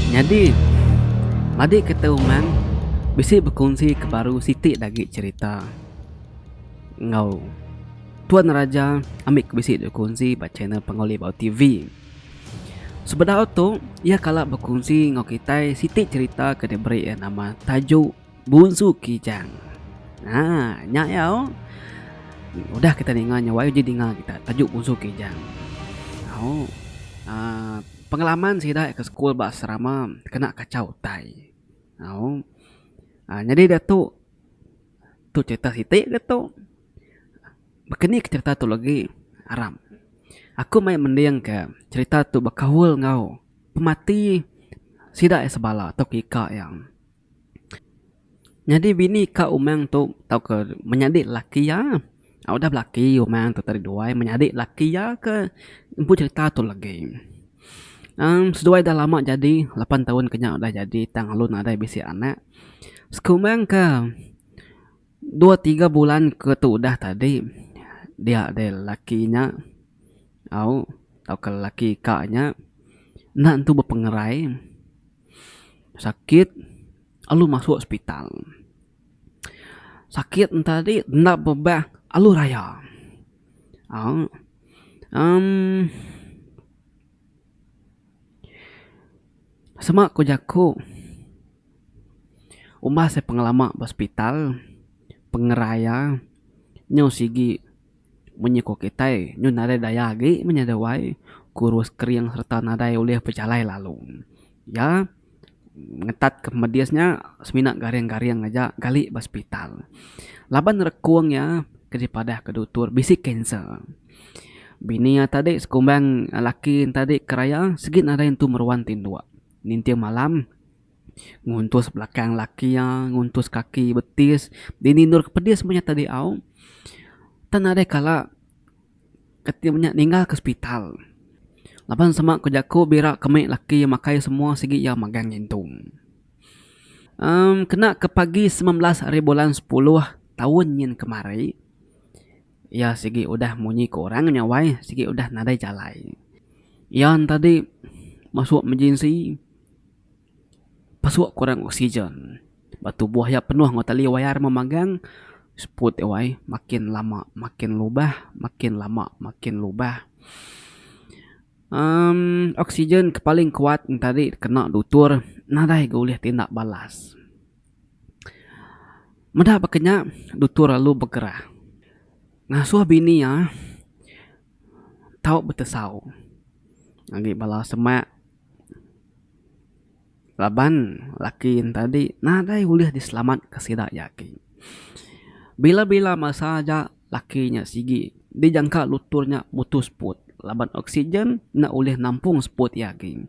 Nyadi, madik kita umang bisi bekunsi ke baru siti agi cherita enggau Tuan Raja ambi ke bisi dep kunsi ba channel Panggau Libau TV. Sebedau tu iya kala bekunsi enggau kitai siti cherita ke diberi iya nama Tajuk Bunsu Kijang. Ha, nya iya oh. Udah kita ninga nya wai uji dinga kita tajuk Bunsu Kijang. Oh. Uh, pengalaman sida ke sekul ba asrama kena kacau utai. Oh. Uh, nyadi dia tu tu cerita siti ke tu. Bekeni ke cerita tu lagi aram. Aku mai mending ke cerita tu bekaul enggau pemati sida iya sebala atau ika iya. Nyadi bini ka umang tu tauka menyadi lelaki iya au udah belaki umang tu tadi duai menyadi lelaki iya ke empu cerita tu legi. Aaa seduai dah lama jadi lapan taun ke nya udah jadi tang lalu nadai bisi anak. Sekumang ke dua tiga bulan ke tu udah tadi dia deh lelaki nya au tauka lelaki ka nya enda entu bepengerai. sakit alu masuk hospital sakit enta di enda bebah alu raya aaa emm sema ku jaku umbas e pengelama ba hospital pengeraya nyau sigi Munyi ko kitai nyun nadai daya agi menyada wai, kurus kering sereta nadai ulih bejalai lalu. Iya ngetat ke medis nya semina garing-garing aja gali ba sepital. Laban rekung iya ke dipadah ke dutur bisi kanser. Bini iya tadi sekumbang laki iya tadi ke raya sigi nadai entu meruan tinduk ninting malam. Nguntus belakang laki iya, nguntus kaki betis. Dini endurka pedis meh nyata diau. Tang nadai kala kati meh nya ninggalka sepital. Laban sema ku jaku bira ke meh laki iya makai semua sigi iya magang ngintung. Amm kena ke pagi sembilan belas ari bulan sepuluh taun nyin kemari iya sigi udah munyi ke orang nya wai sigi udah nadai jalai. Iya ntadi masuk emergency. Pasuk kurang oksigen ba tubuh iya penuh enggau tali wayar meh magang seput wai makin lama makin lubah makin lama makin lubah uhh oksigen ke paling kuat enti ari kena dutur nadai ga ulih tinda balas. Meda baka nya dutur lalu begerah ngasuh bini iya tau betesau agi bala semak. Laban laki ne tadi nadai ulih diselamatka sida iya agi. Bila bila masa aja laki nya sigi dijangka lutur nya mutus seput laban oksigen enda ulih nampung seput iya agi.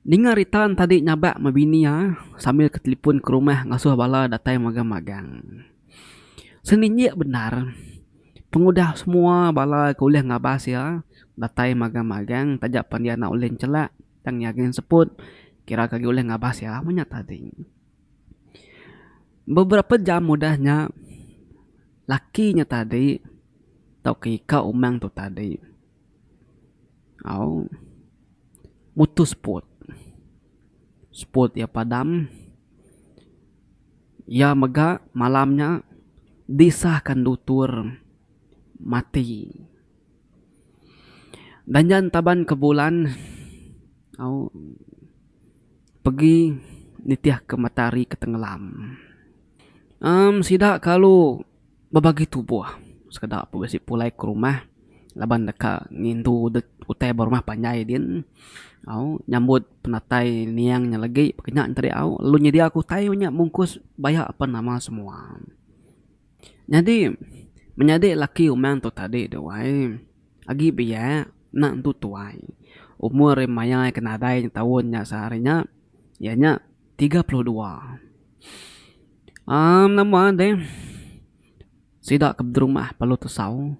Ninga rita ne tadi nyabak meh bini iya sambil ke telefon ke rumah ngasuh bala datai magang magang. Seninjik bendar pengudah semua bala ke ulih ngabas iya datai magang magang taja pan iya enda ulih nchelak tang iya gin seput kira ke agi ulih ngabas iya meh nya tadi. Beberapa jam udah nya laki nya tadi tauka ika umang tu tadi au mutus seput. Seput iya padam Iya mega malam nya disahka endutur mati. Danjan Taban ke Bulan au pegi nitihka matahari ke tengelam. Em sida kalu. bebagi tubuh sekeda ku bisi pulai ke rumah laban deka ngindu dep utai ba rumah panjai din au nyambut penatai niang nya legi peka nya enti au lalu nyedia ku utai nya mungkus baya apan nama semua. Nyadi menyadi laki umang tu tadi deh wai agi biak enda entu tuai umur iya maya iya ke nadai taun nya sehari nya iya nya tiga puluh dua. Am nama deh sida ke beterumah Palu Tesau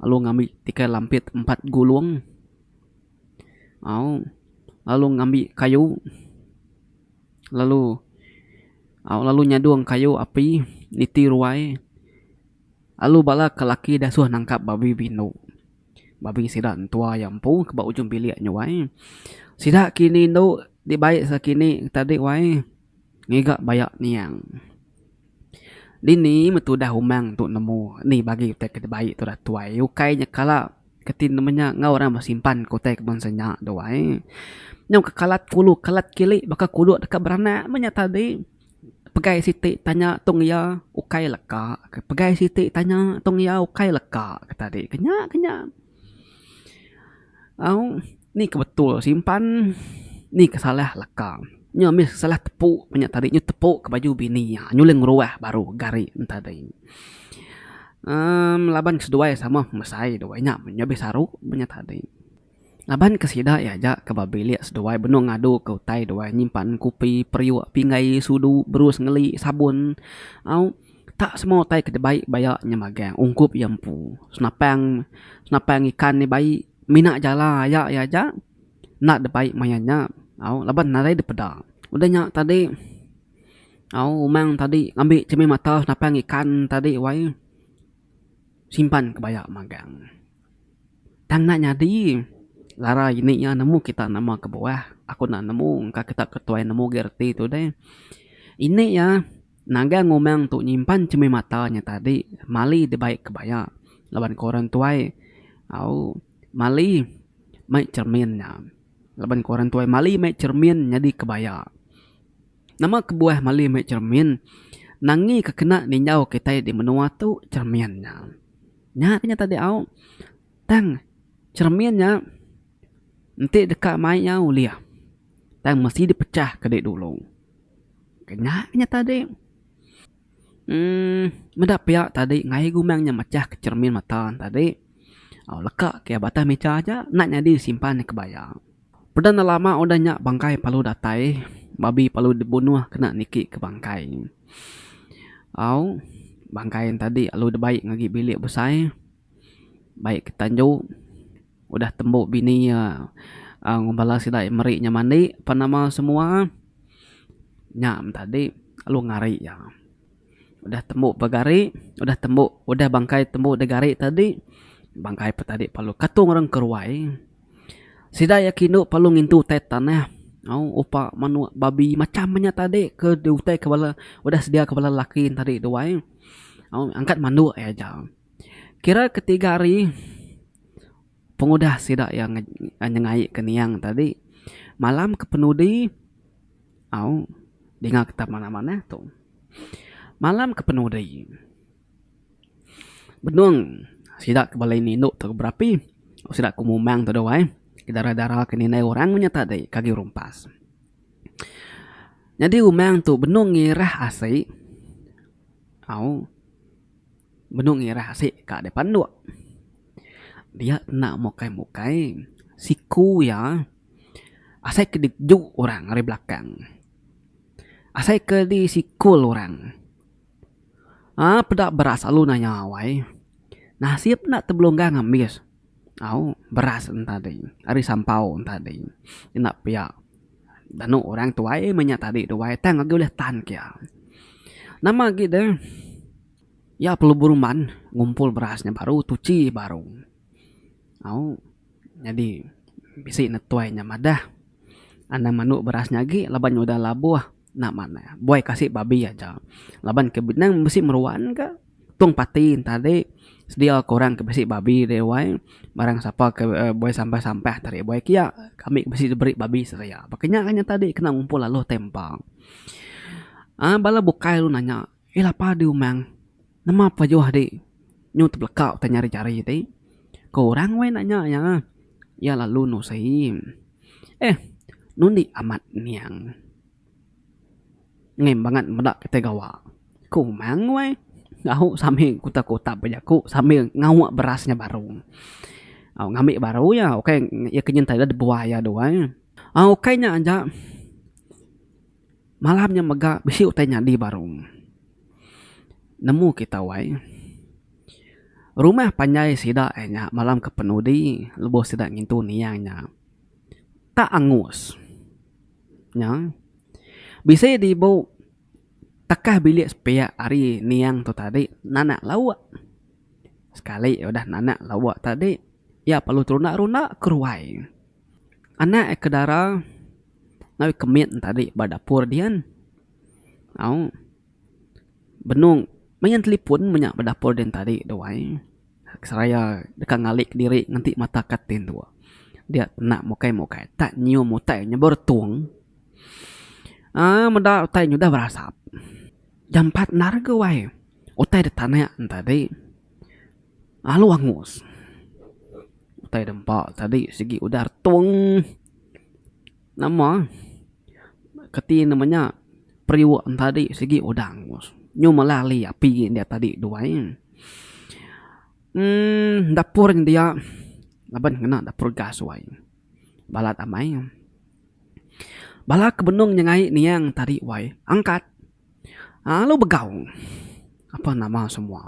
lalu ngambi tikai lampit empat gulung au lalu ngambi kayu lalu au lalu nyadung kayu api niti ruai lalu bala ke laki disuh nangkap babi be indu babi sida entua iya empu ke ba ujung bilik nyuai sida kini indu dibai sida kini tadi wai. Ngiga baya niang. Dini metudah umang tu nemu ni bagi utai ke dibai tu datuai ukai nya kala keti nemu nya enggau orang besimpan ke utai ke bansa nya duai. Nyau ke kalat kulu kalat kili baka kudok deka beranak meh nya tadi pegai siti tanya tong iya ukai leka pegai siti tanya tong iya ukai leka ke tadi ke nya ke nya. Au ni ke betul simpan ni ke salah leka nya meh salah tepu ku nya tadi nyau tepu ke baju bini iya nyau ulih ngeruah baru gari nya tadi uhh laban ke seduai sama mesai duai nya nya meh saru ku nya tadi laban ke sida iya aja ke ba bilik seduai benung ngadu ke utai duai nyimpan kopi periuk pinggai sudu berus ngeli sabun au. Tak semua utai ke dibai baya nya magang ungkup iya empu. Senapang senapang ikan nya bai mina jala aya iya aja enda dibai maya nya au laban nadai dipeda. Udah nya tadi au umang tadi ngambi cermin mata senapang ikan tadi wai simpan ke baya magang. Tang enda nyadi larai ini iya nemu kita nama kebuah aku enda nemu engka kita ketuai nemu agi reti tu deh. Ini iya. Naga ngumang tu nyimpan chemih mata nya tadi mali dibai kebaya laban ko orang tuai au mali mai cermin nya laban ko orang tuai mali mai cermin nyadi kebaya. Nama kebuah mali mai cermin nangi ke kena ninjau kitai di menua tu cermin nya. Nya ke nya tadi au tang cermin nya enti deka mai nya ulih tang mesti dipecah ke dulu. Kena inya tadi uhh meda pia tadi ngaye gumang inya mechah ke cermin mata ne tadi au leka ke batang meja aja enda nyadi disimpan ke bayang. Peda enda lama udah inya bangkai perlu datai babi perlu dibunuh kena niki ke bangkai ne au bangkai ne tadi lalu dibai ngagai bilik besai bai ke tanjung. Udah tembu bini iya enggau bala sida iya meri nya mandi pan nama semua nya meh tadi lalu ngari iya. Udah tembu ba gari udah tembu udah bangkai tembu da gari tadi bangkai pa tadi lalu katung orang ke ruai sida iya ke indu lalu ngintu utai tanah au upa manuk babi macam inya tadi ke diutai ke bala udah sedia ke bala lelaki tadi duai au angkat mandu aja. Kira ketiga hari pengudah sida iya nyengaika niang tadi malam ke penudi au dinga kita manah manah tu malam ke penudi benung sida ke bala ini indu tu berapi sida ke umang tu duai dara dara ke ninai orang nya tadi kagi rumpas nyadi umang tu benung ngirah asi au. Benung ngirah asik ka dei panduk. Dia kena mukai mukai siku iya asai ke dijuk orang ari belakang. Asai ke di sikul orang. Aa peda beras alu nanya awai. Nasib enda tebelunggang ngambis au beras en tadi ari sampau en tadi. Enda pia danu orang tuai meh nya tadi duai tang agi ulih tan ke iya. Nama agi deh. Iya perlu beruman ngumpul beras nya baru tuchi baru au nyadi bisi ne tuai nya madah anang mandu beras nya agi laban nya udah labuh enda manah buai kasi babi aja laban ke nang bisi meruan ka tung pati enta ade sedia ke orang ke bisi babi deh wai barang sapa ke buai sampah sampah enta ade buai kia kami ke bisi diberi babi sedia ba kenya aja nyata ade kena ngumpul lalu tai empa aaa bala bukai lalu nanya Ila padu umang. Nema pa juh adi nyu tebeleka utai nyari-nyari ti. Ko orang weh enda nya iya. Iya lalu nusi. Eh nundi amat niang. Ngem bangat meda kitai gawa. Ko umang weh au sami kuta kutap ba jaku sambil ngawa beras nya baru. Au ngambi baru iya ukai iya ke nyentai dua iya duai. Au ukai nya aja. Malam nya mega bisi utai nyadi baru. Nemu kita wai. Rumah panjai sida ai nya malam ke penudi lebuh sida ngintu niang nya. Tak angus. Nya. Bisi dibu tekah bilik sepiak ari niang tu tadi nanak lauk. Sekali udah nanak lauk tadi, iya perlu terunda-runda ke ruai. Anak ke dara ngawi kemit tadi ba dapur dian au benung main telefon menya ba dapur dian tadi duai seraya deka ngalik diri ngenti mata katin tuo dia kena mukai mukai tak nyium utai nyebor tung aaa meda utai nyudah berasap jampat endar ke wai utai ditanek tadi. Lalu angus. Utai da empa tadi sigi udah retung. Nama kati nama nya periuk ne tadi sigi udah angus. Nyu melah ali api india tadi duai. uhh dapur india laban ngena dapur gas duai. Balat amai. Bala ke benung nya ngai niang tadi wai angkat. Alu begau apan nama semua.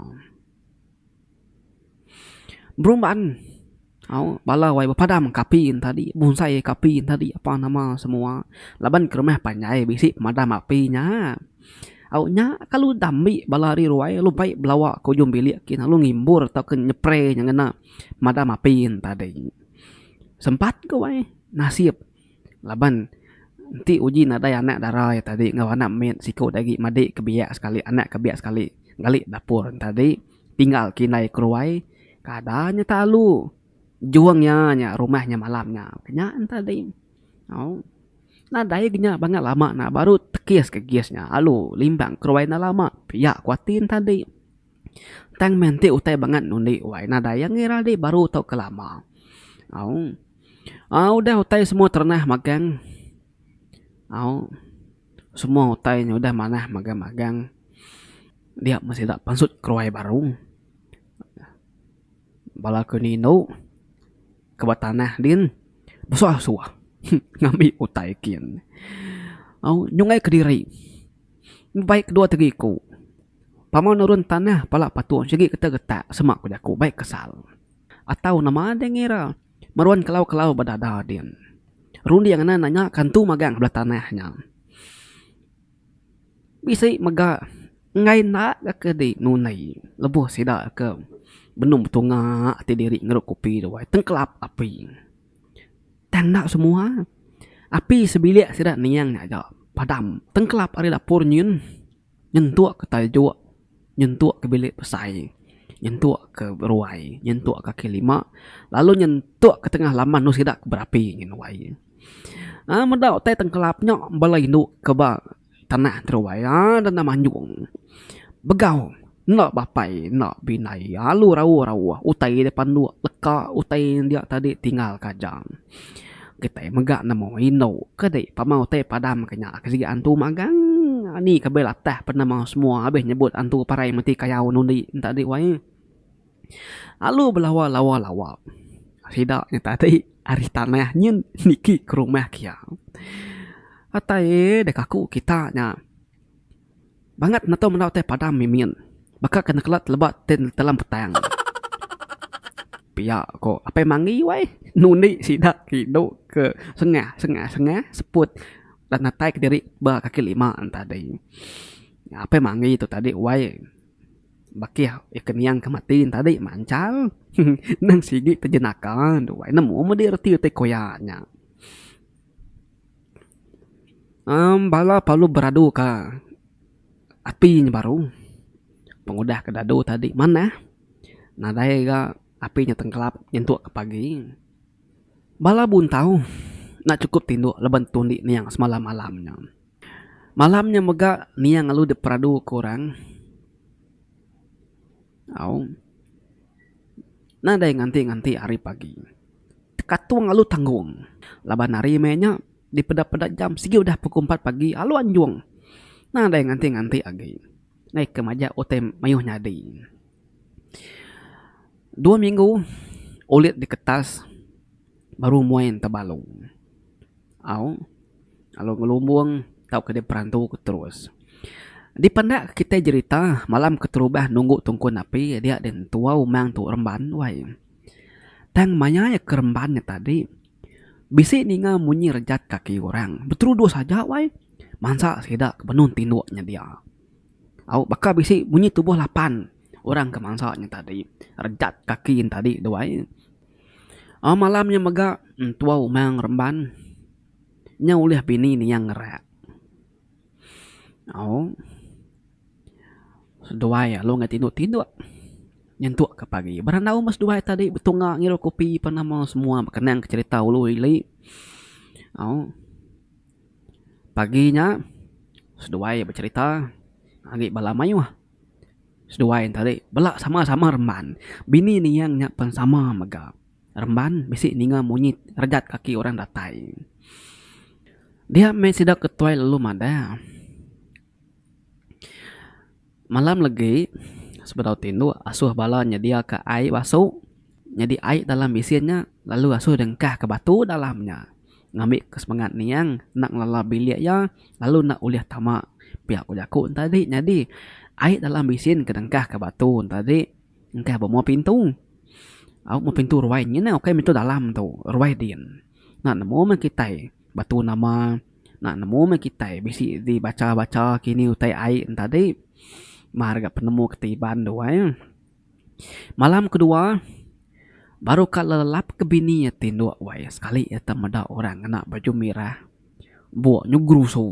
Beruban au bala wai bepadam ka api tadi bonsai ka api tadi apa nama semua laban ke rumah panjai bisi pemadam api nya. Au nya kalu dambi bala ari ruai lalu mpai belawa ka ujung bilik kiye lalu ngimbor atau ke nyepre nya ngena pemadam api tadi. Sempat ku wai nasip. Laban enti uji nadai anak dara iya tadi enggau anak mit siku agi madik ke biak sekali anak ke biak sekali ngali dapur ne tadi tinggal ke indai ke ruai kada nya telalu jung iya nya rumah nya malam nya nya ne tadi au nadai lagi nya bangau lama nya baru tekis ke gas nya alu limbang ke ruai enda lama pia ku ati ne tadi tang meh enti utai bangat undi wai nadai ange rali baru tau ke lama au. Au udah utai semua terenah magang au semua utai nya udah manah magang magang dia meh sida pansut keruai baru bala ku nya indu ke ba tanah din besuah suah heh ngambi utai kin au nyungkai kediri mbai ke dua tegi ku pama nurun tanah pala patung sigi ketak ketak sema ku jaku bai kesal. Atau nama deh ngira. Meruan kelau-kelau bedada din. Runding ne nanya ke entu magang ke bela tanah nya. Bisi mega enggai enda ga ke di nunei lebuh sida ke benung betunga ti diri ngerup kopi ruai tengkelap api. Tang enda semua. Api sebilik sida niang aja padam. Tengkelap ari dapur nyin. nyentuk ke taljuk, nyentuk ke bilik besai, nyentuk ke ruai, nyentuk ke kaki lima lalu nyentuk ke tengah laman enu sida ke berapi ngin wai. Ai meda utai tengkelap nya bala indu ke ba tanah ti ruai ai denda manjung begau. Enda bapai enda bina iya alu rauh-rauh utai iya deh panduk leka utai dia tadi tinggal ka jang. Kitai mega nemu indu ke dei pama utai padam ke nya ke sigi antu magang ni ke bela tah penemu semua abih nyebut antu parai meti kayau nundi enta di wai. Alu belawa lawa-lawa sida nya tadi ari tanah nyin niki ke rumah kiya. Utai deka ku kita nya. Bangat natu menda utai padam mimin. Baka ke nekela teleba ti netelam petang. Pia ko apai mangi wai nundi sida ti do ke sengah sengah sengah seput dan natai kediri ba kaki lima ne tadi. Apai mangi tu tadi wai bakih ke niang ke mati ne tadi manchal nang sigi ke jenaka ne tu wai nemu mudi reti utai koya nya. Amm bala parlu beradu ka api nya baru pengudah ka dadu tadi manah nadai ga api nya tengkelap nyentuk ka pagi bala buntau enda cukup tindu laban tu indi niang semalam malam nya. Malam nya mega niang lalu dep peradu ka orang au. Nadai nganti-nganti ari pagi. Tekatung alu tanggung. Laban hari meh nya dipeda-peda jam sigi udah pukul empat pagi alu anjung. Nadai nganti-nganti agi. Meh ke maja utai mayuh nyadi. Dua minggu ulit diketas. baru muai enta balong au lalu ngelumbung tauka dep perantu ke terus. Dipendak kitai jerita malam keterubah nunggu tungkun api dia deh entuau mang tu remban wai. Tang maya iya ke remban nya tadi bisi ninga munyi rejat kaki orang beteruduh saja wai mansa sida ke benung tinduk nya dia. Au baka bisi munyi tubuh lapan orang ke mansa nya tadi rejat kaki nya tadi deh wai. Au malam nya mega Entua Umang Remban nya ulih bini niang ngerak. Au seduai alu enggau tinduk tinduk nyentuk ka pagi. Berandau meh seduai tadi betunga ngirup kopi pan nama semua bekenang ka cherita ulu ili. Au pagi nya seduai becherita agi bala mayuh. Seduai enta deh bela sama-sama remban. Bini niyang nya pen sama mega remban bisi ninga munyi rejat kaki orang datai. Dia meh sida ke tuai lalu madah. Malam legi sebedau tindu asuh bala nyedia ka ai basu nyadi ai dalam bisin nya lalu asuh dengkah ka batu dalam nya. ngambi ke semengat niang enda ngelala bilik iya lalu enda ulih tama pia ku jaku ne tadi nyadi ai dalam bisin ke dengkah ka batu ne tadi engka ba mua pintu au mua pintu ruai nyin ukai pintu dalam tu ruai din enda nemu meh kitai batu nama enda nemu meh kitai bisi di bacha bacha kini utai ai ne tadi mar ga penemu ke ti Iban duai. Malam kedua, baru ka lelap ke bini iya ti endur wai iya sekali iya tau meda orang ngena baju mirah buk nyugru su.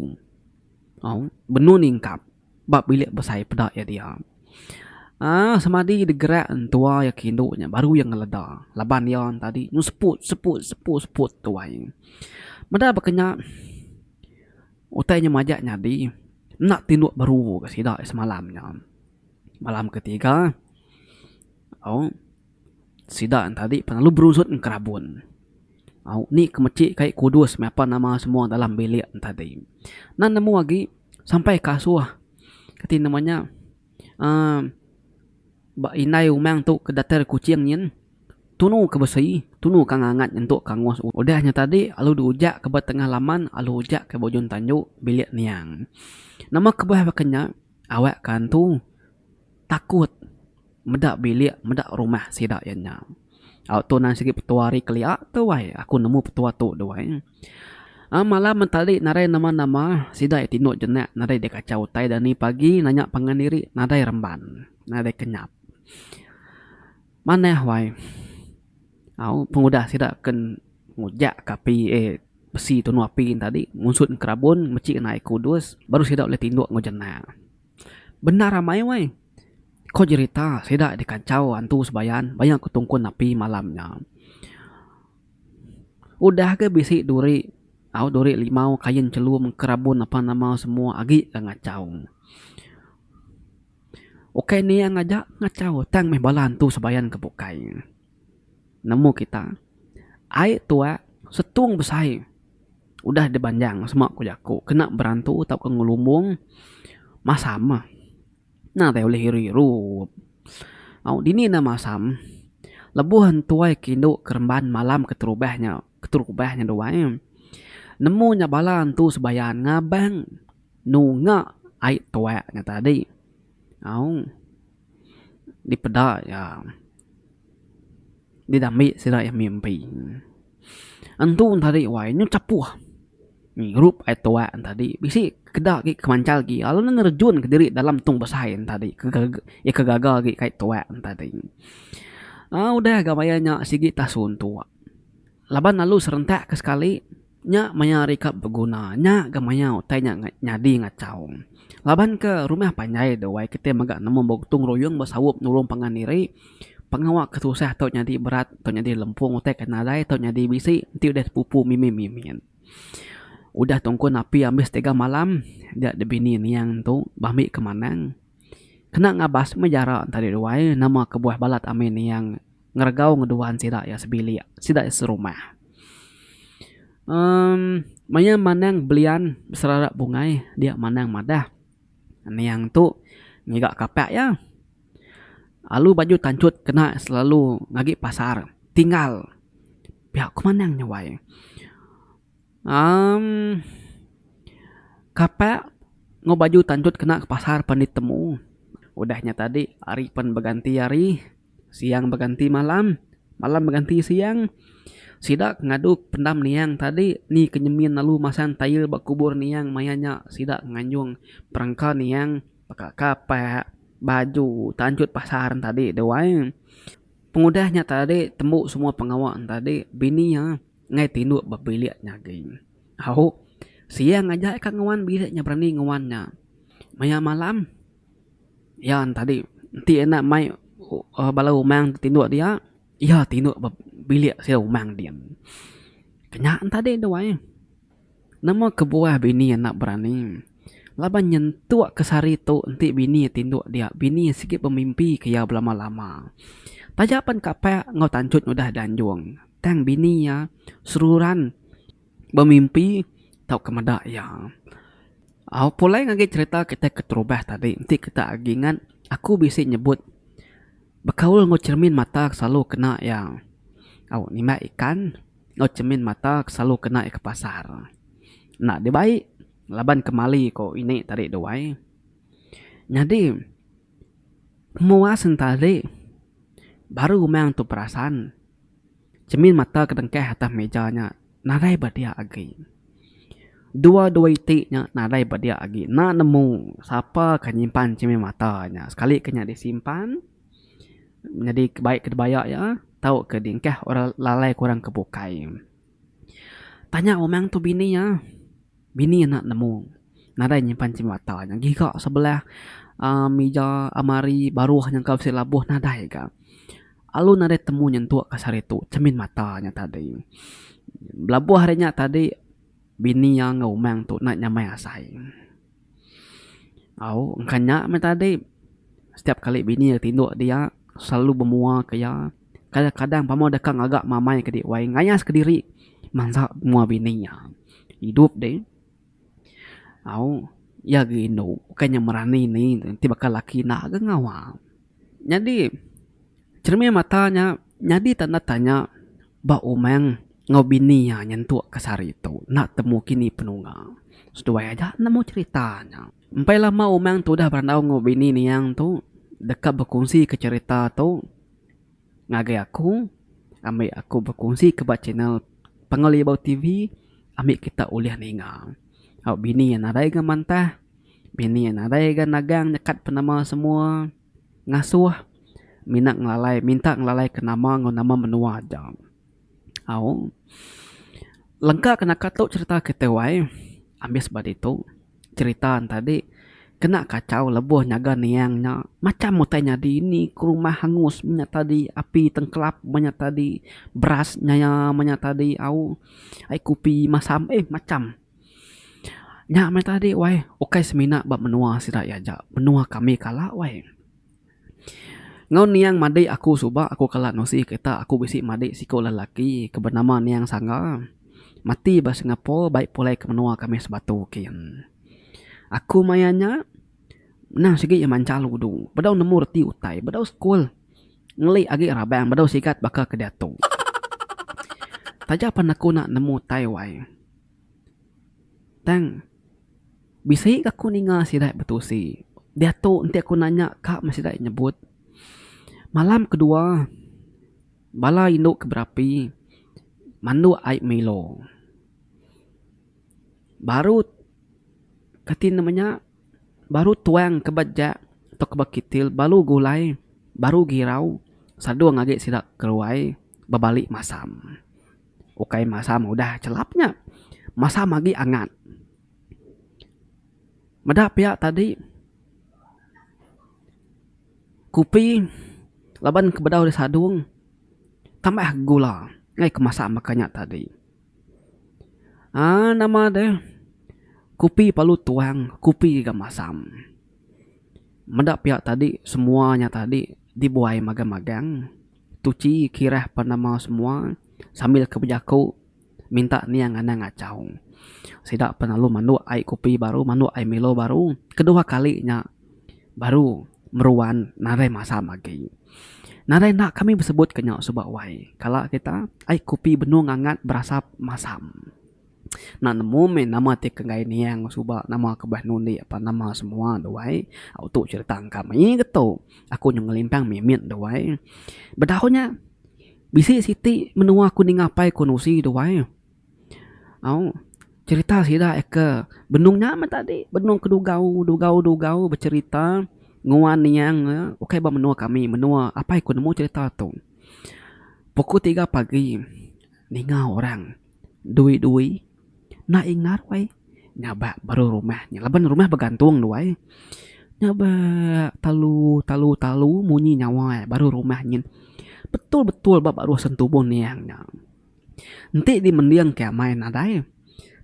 Au, benun ingkap ba bilik besai peda iya dia. Aaa semadi digerak entua iya ke indu nya baru iya ngeleda laban iya tadi nyun seput seput seput seput tuai. Meda baka nya utai nya majak nyadi enda ti indu beru ke sida semalam nya. Malam ke tiga, au sida entadi pengalu berusut ngerabun. Au ni ke meci kai kudus meh apan nama semua dalam bilik entadi. Nan nemu agi sampai ke asuh ke ti nama nya uhh ba indai umang tu ke datai ari kuching nyin tunu ke besi tunu ke ngangat nyentuk ke angus udah nya tadi lalu diujak ke ba tengah laman lalu ujak ke ba ujung tandu bilik niang. Nama kebuah baka nya. Awak ke antu takut meda bilik meda rumah sida iya nya. Au tu nan sigi petua ari kelia tu ai aku nemu petua tu dau ai. A malam meh tadi nadai nama nama sida iya tinduk jenak nadai dikachau utai dani pagi nanya pangan diri nadai remban nadai kenyap. Manah wai. Au pengudah sida ken ngujak ke api eh besi tunu api yen tadi ngunsut kerabon mechik kena ai kudus baru sida ulih tinduk enggau jenak. Bendar amai weh. Ko jerita sida dikachau antu sebayan bayau ke tungkun api malam nya. Udah ke bisi duri au duri limau kain chelum kerabon apan nama semua agi ke ngachau. Ukai niang aja ngachau tang meh bala antu sebayan ke bukai. Nemu kita ai tuak setung besai udah dibanjang sema ku jaku kena berantu tauka ngelumbung masam meh. Nang tai ulih iru iru. Au dini ne masam lebuh entuai ke indu keremban malam keterubah nya keterubah nya duai nemu nya bala antu sebayan ngabang Nunga ai tuak nya tadi. Au. Dipeda iya. Didambi sida iya mimpi. Entu tadi wai nyu chapuh ngirup ai tuak nya tadi bisi keda agi kemanchal agi lalu ne nerejun ke diri dalam tung besai nya tadi ke iya ke gaga agi kai tuak nya tadi. Au udah ga maya nya sigi tasun tu laban lalu serentak ke sekali. Nya maya ari ka beguna. Nya ga maya utai nya nyadi ngachau. Laban ke rumah panjai tu wai kitai mega nemu begutung ruyung besaup nulung pangan diri, pengawa ke tusah tu nyadi berat tu nyadi lempung utai ke nadai tu nyadi bisi enti udah sepupu mimit mimit. Udah tungkun api ambis tiga malam dia da bini niang tu ba ambi ke manang. Kena ngabas meh jara enta diri wai nama kebuah balat ami niang. ngeregau ngeduan sida iya sebilik, sida iya serumah. Emm maya manang belian beserarap bungai dia manang madah niang tu ngiga kapak iya alu baju tanchut kena selalu ngagi pasar tinggal pia ku manang nyawai. Emm kapak enggau baju tanchut kena ke pasar pan ditemu udah nya tadi ari pan beganti ari. Siang beganti malam, malam beganti siang. Sida ke ngadu pendam niang tadi ni ke nyemin lalu masang tail ba kubur niang maya nya sida nganjung perengka niang baka kapak, baju tanchut pasar tadi deh wai. Pengudah nya tadi tembu semua pengawa tadi bini iya ngai tindu ba bilik nya agi. Au siang aja ka nguan bilik nya berani nguan nya. Maya malam. Iya tadi enti enda mai bala umang ti tinduk dia, iya tinduk ba bilik sia umang din. Kanya tadi tu ai. Nama kebuah bini enda berani. Laban nyentuk ke sehari tu enti bini iya tinduk dia, bini iya sigi bemimpi ke iya belama-lama. Taja pen kapak enggau tanchut udah di anjung tang bini iya seruran. Bemimpi tauka meda iya. Au pulai ngagai cerita kitai keterubah tadi enti kita agi ingat aku bisi nyebut bekaul enggau cermin mata selalu kena iya au nimbak ikan enggau cermin mata selalu kena iya ke pasar. Enda dibai laban kemali ko ini tadi duai. Nyadi memuas enta agi baru umang tu perasan. Cermin mata ke dengkah atas meja nya nadai bediak agi. Dua-dua iti nya nadai bediak agi enda nemu sapa ke nyimpan cermin mata nya. Sekali ke nya disimpan nyadi ke baik ke dibaya iya tauka diengkah orang lalai ke orang ke bukai. Tanya umang tu bini iya. Bini anak nemu. Nadai nyimpan chemata nya giga sebelah uhh mija almari baruh nyangkau bisi labuh nadai ga. Alu nadai temu nyentuk ka sehari tu chemin mata nya tadi. Belabuh ari nya tadi bini iya enggau umang tu nadai nyamai asai. Au engka nya meh tadi setiap kali bini iya tinduk dia selalu bemua ke iya. Kadang-kadang pama deka ngaga mamai ke dek wai ngayas ke diri mansa mua bini iya. Idup deh au iya agi indu bukai nya merani ni enti baka laki enda agi ngawa. Nyadi cermin mata nya nyadi tanda tanya ba umang enggau bini iya nyentuk ke sehari tu enda temu kini penungga. Seduai aja nemu cerita nya. Empai lama umang tu udah berandau enggau bini niang tu deka bekunsi ke cerita tu. ngagai aku ambi aku berkongsi ke ba channel Panggau Libau TV ambi kita ulih ninga au bini iya nadai ga mantah bini iya nadai ga nagang nyekat penama semua ngasuh mina ngelalai minta ngelalai ke nama enggau nama menua aja au lengka ke naka tu cherita kita wai ambis ba ditu. Cherita enta dik, kena kachau lebuh nyaga niang nya, macham utai nyadi ni ke rumah hangus menya tadi api tengkelap menya tadi beras nyaya menya tadi au ai kupi masam eh macham. Nya meh tadi wai ukai semina ba menua sida aja, menua kami kala wai. Enggau niang madik aku suba aku kala nusi kereta aku bisi madik siko lelaki ke benama niang sangga mati ba singapore bai pulai ke menua kami sebatu kin. Aku maya nya nah sigi iya manchal udu bedau nemu reti utai bedau school ngeli agi rabang bedau sigat baka ke diatu. Taja pan aku nemu utai wai tang. Bisi ke aku ninga sida betusi. Diatu enti aku nanya ka meh sida nyebut malam kedua bala indu ke berapi mandu ai milo. Baru kati ne menya baru tuang ke ba jak atau ke ba kitil baru gulai baru girau sadung agi sida ke ruai bebali masam. ukai masa mudah chelap nya masa magi angat. Meda pia tadi kopi laban ke bedau disadong tambah gula ngai ke masa meka nya tadi aaa nama deh kopi perlu tuang kopi ga masam meda pia tadi semua nya tadi dibuai magang-magang. Tuchi kirah penama semua sambil ke bejaku minta niang anang achau. Sida pen lalu manduk ai kopi baru manduk ai milo baru kedua kali nya baru meruan nadai masam agi. Nadai enda kami besebutka nya suba wai kala kita ai kopi benung angat berasap masam. Enda nemu meh nama ti ke enggai niang suba nama ke beh nundi apan nama semua tu ai. Au tu cerita engka mih ke tu. Aku nyau ngelimpang mimit tu ai. Bedau nya bisi siti menua ku ninga pai ku nusi tu ai. Au cerita sida ke benung nya meh tadi benung ke dugau dugau dugau becerita nguan niang ne ukai ba menua kami menua apai ku nemu cerita tu. Pukul tiga pagi ninga orang Dui-dui enda ingat wai nya ba baru rumah nya laban rumah begantung tu ai. Nya ba talu talu talu munyi nyawa iya baru rumah nyin. Betul-betul ba baruh sentubuh niang nya. Enti dimendingka amai nadai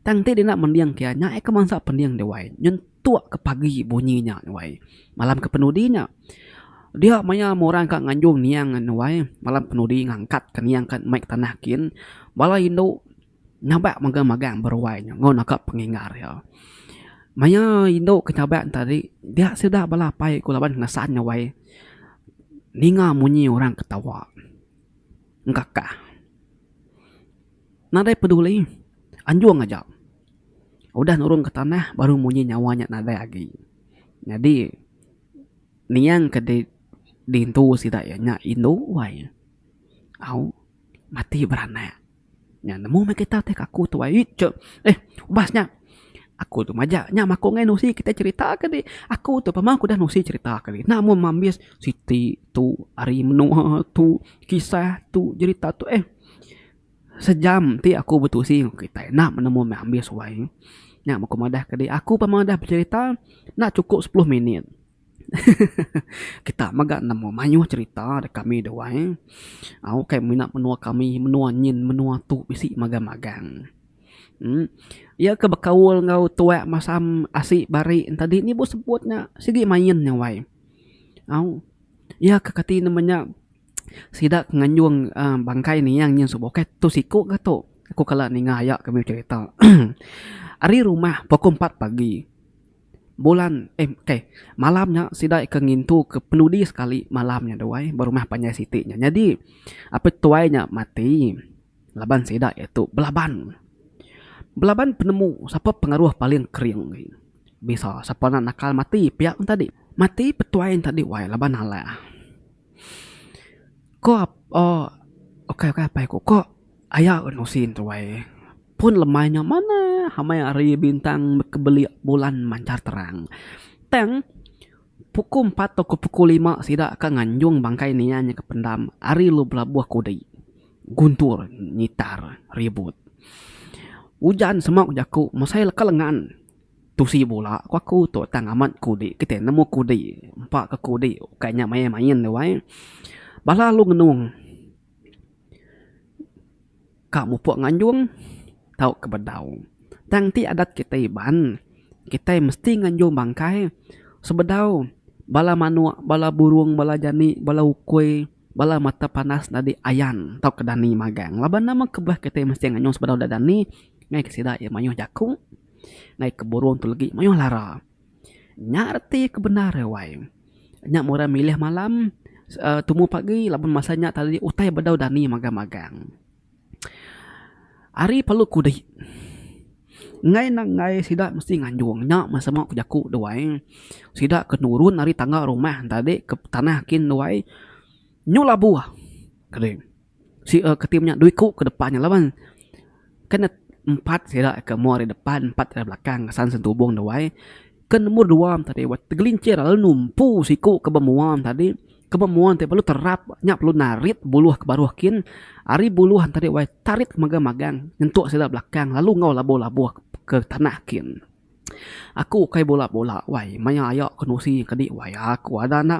tang enti dina mendingka nya ai kemansa pending deh wai. Tu ke pagi bunyi nya nuai. Malam ke penudi nya dia maya meh orang ka nganjung niang ngan nuai malam ke penudi ngangkat ka niang ka mai ke tanah kin bala indu nyabak mega magang ba ruai nya enggau naka pengingar iya. Maya indu ke nyabak nya tadi dia sida bala apai ku laban ngesan nuai ninga munyi orang ketawa engkakah. Nadai peduli anjung aja. Udah nurung ke tanah baru munyi nyawa nya nadai agi. Nyadi niang ke di diintu sida iya nya indu wai au mati beranak. Nya nemu meh kita ti ke aku tu ai ije eh ubas nya aku tu maja nya mako ngai nusi kita cherita ke dih aku tu pemau aku udah nusi cherita ke dih enda meh mambis siti tu ari menoa tu kisah tu jerita tu eh. Sejam ti aku betusi enggau kitai enda menemu meh ambi suai. Nya meh ku madah ke dih aku pemang udah becerita enda chukup sepuluh minit. Kita mega nemu mayuh cerita dek kami duai. Au kai mina menua kami menua nyin menua tu bisi magang magang. uhh Iya ke bekaul enggau tuak masam asi bari ne tadi nyebut sebut nya sigi main nya wai. Au iya ke kati ne menya. Sida ke nganjung bangkai niang nyin subuh kai tu siku ke tu. Aku kala ninga aya ke meh cherita. Ari rumah pukul empat pagi bulan eh kai malam nya sida ke ngintu ke penudi sekali malam nya duai ba rumah panjai siti nya. Nyadi apai tuai nya mati laban sida iya tu belaban. Belaban penemu sapa pengaruh paling kering agi bisa sapa nak nakal mati pia tadi. Mati petuai tadi wai laban alah. Ko ap uhh ukai ukai apai ku ko aya un usin tu ai pun lemai nya manah amai hari bintang bekebelik bulan manchar terang. Tang pukul empat tauka pukul lima sida ka nganjung bangkai nia nya ke pendam ari lu belabuh kudi guntur ngitar ribut. Ujan semak jaku masa iya leka lengan. Tusi bula ku aku tu tang amat kudi kitai nemu kudi empa ke kudi ukai nya main main tu ai bala lu ngenung ka mupuk nganjung tau ke bedau tang ti adat kitai iban kitai mesti nganjung bangkai sebedau bala manuk bala burung bala jani bala ukui bala mata panas nyadi ayan tau ke dani magang laban nama ke beh kitai mesti nganjung sebedau da dani ngagai sida iya mayuh jaku. Ngai ke burung tu legi mayuh lara. Nya reti ke bendar e wai. Nya mung orang milih malam uhh tumu pagi laban masa nya tadi utai bedau dani magang magang. Ari perlu kudi ngai ne ngai sida mesti nganjung nya meh sama ku jaku de wai sida ke nurun ari tangga rumah tadi ke tanah kin de wai nyuh labuh. Sia ke ti menya dua iku ke depan nya laban kan ne empat sida ke meh ari depan empat ari belakang asan sentubong da wai ke numbor dua am tadi weh tegelincir lalu numpu siku ke ba mua am tadi ke ba mua ti perlu terap nya perlu narit buluh ke baruh kin ari buluh am tadi wai tarit magang magang nyentuk sida belakang lalu enggau labuh labuh ke tanah kin. Aku ukai bola bola wai maya aya kenusi kedi wai aku ada enda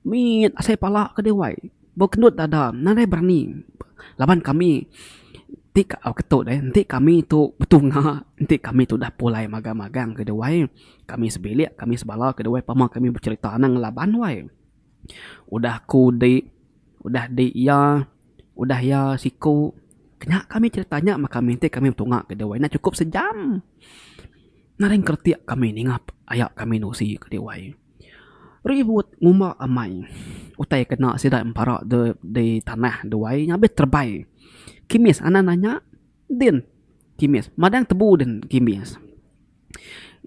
mit asai pala kedi wai bau kendut dada nadai berani laban kami ti ketut eh enti kami tu betunga enti kami tu udah pulai magang magang kedi wai kami sebilik kami sebala kedi wai pama kami becerita nang laban wai. Udah aku di, udah di iya, udah iya siku. Kena kami cerita nya meh kami ti kami betunga ke diwai nya cukup sejam. Nering kretik kami ninga aya kami nusi ke diwai. Ribut ngumba amai utai kena sida pempara de di tanah diwai nya abih terebai. Kimis anak nanya, Din, kimis madang tebu din kimis.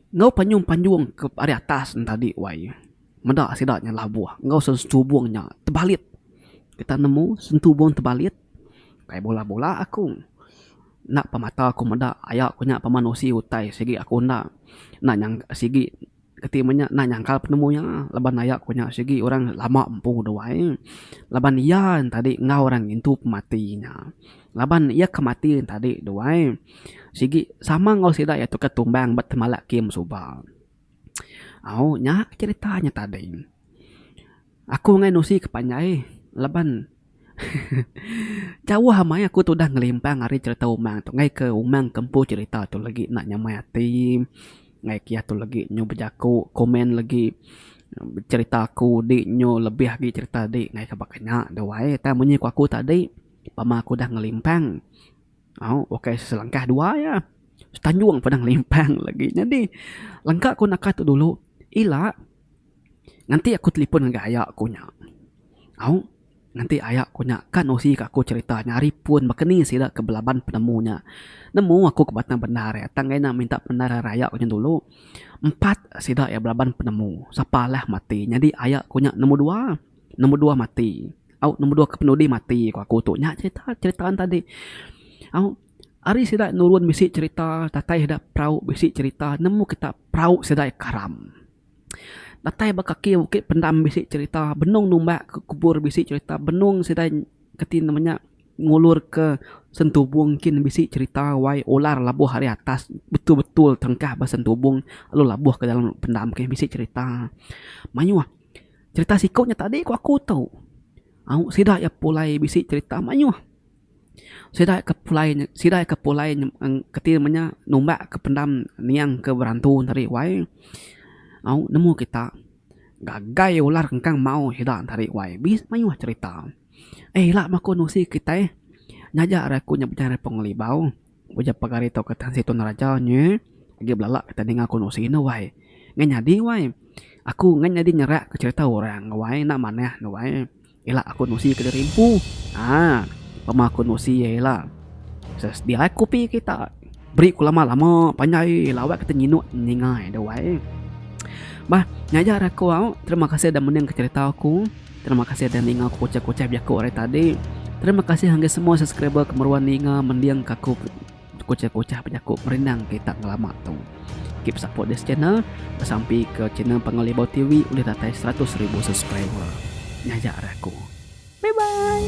Enggau panyung panjung ke ari atas ne tadi wai meda sida nya labuh enggau sentubung nya tebalit kita nemu sentubung tebalit kai bola bola aku enda pa mata ku meda aya ku nya peman usi utai sigi aku enda nyangka sigi enti meh nya enda nyangka penemu iya laban aya ku nya sigi orang lama empu deh wai laban iya tadi enggau orang ngintu pemati nya. Laban iya ke mati tadi tu ai sigi sama enggau sida iya tu ke tumbang ba temala kim suba. Au nya cerita nya tadi. Aku ngai nusi ke panjai laban jauh amai aku tudah ngelimpang ari cerita umang tu ngai ke umang ke empu cerita tu legi enda nyamai ati ngai ke iya tu legi nyu bejaku komen legi cerita aku di nyu lebih agi cerita di ngai ke baka nya tu ai. Tang munyi ku aku tadi. Pama aku dah ngelimpang. Au, ukai selangkah dua aja. Setanjung pun dah ngelimpang lagi. Nyadi, lengka ku naka tu dulu, ila nganti aku telefon ngagai aya aku nya. Au, nganti aya aku nya ka nusi ka aku cherita nya ari pun baka ni sida ke belaban penemu nya. Nemu aku ke batang bandar iya tang ina minta penemu ari aya aku nya dulu. Empat sida iya belaban penemu. Sapa alah mati. Nyadi aya aku nya nombor dua. Nombor dua mati au nombor dua kepenudi mati ku aku tu nya cerita cerita ne tadi au ari sida nurun bisi cerita datai sida perau bisi cerita nemu kita perau sida karam datai ba kaki bukit pendam bisi cerita benung numbak ke kubur bisi cerita benung sida reti nama nya ngulur ke sentubong kin bisi cerita wai ular labuh ari atas betul betul tengkah ba sentubong lalu labuh ke dalam pendam ke bisi cerita mayuh. Cerita siku nya tadi ku aku tu. Au sida iya pulai bisi cerita mayuh. Sida ke pulai sida ke pulai keti meh nya numbak ke pendam niang ke berantu tadi wai. Au nemu kita gagai ular engkang mau sida tadi wai. Bis mayuh cerita. Eh ila ba ku nusi kitai nyaja ra ku nya bejai pengelibau. Ujar pegari tu ke Tan Sri Tun Raja nyu, Agi belala kita ninga ku Enok Sri enda wai. Ngan nyadi wai. Aku ngan nyadi nyerak ke cherita orang wai enda manah enda wai. Ila aku Enok Sri ke diri empu. Haa. Pema ku Enok Sri iya ila. Sedia ai kopi kita. Beri ku lama lama panjai ila awak kita nyinuk ninga iya enda wai. Bah nya aja ari aku auk. Terima kasih dah mening ke cherita aku. Terima kasih udah ninga aku kuchah-kuchah bejaku hari tadi. Terima kasih ngagai semua subscriber ke meruan ninga mending ka aku kuchah-kuchah bejaku perindang kita ngelama tu. Keep support this channel. Besampi ke channel Panggau Libau TV ulih datai 100,000 subscriber. Nyaja ari aku. Bye bye.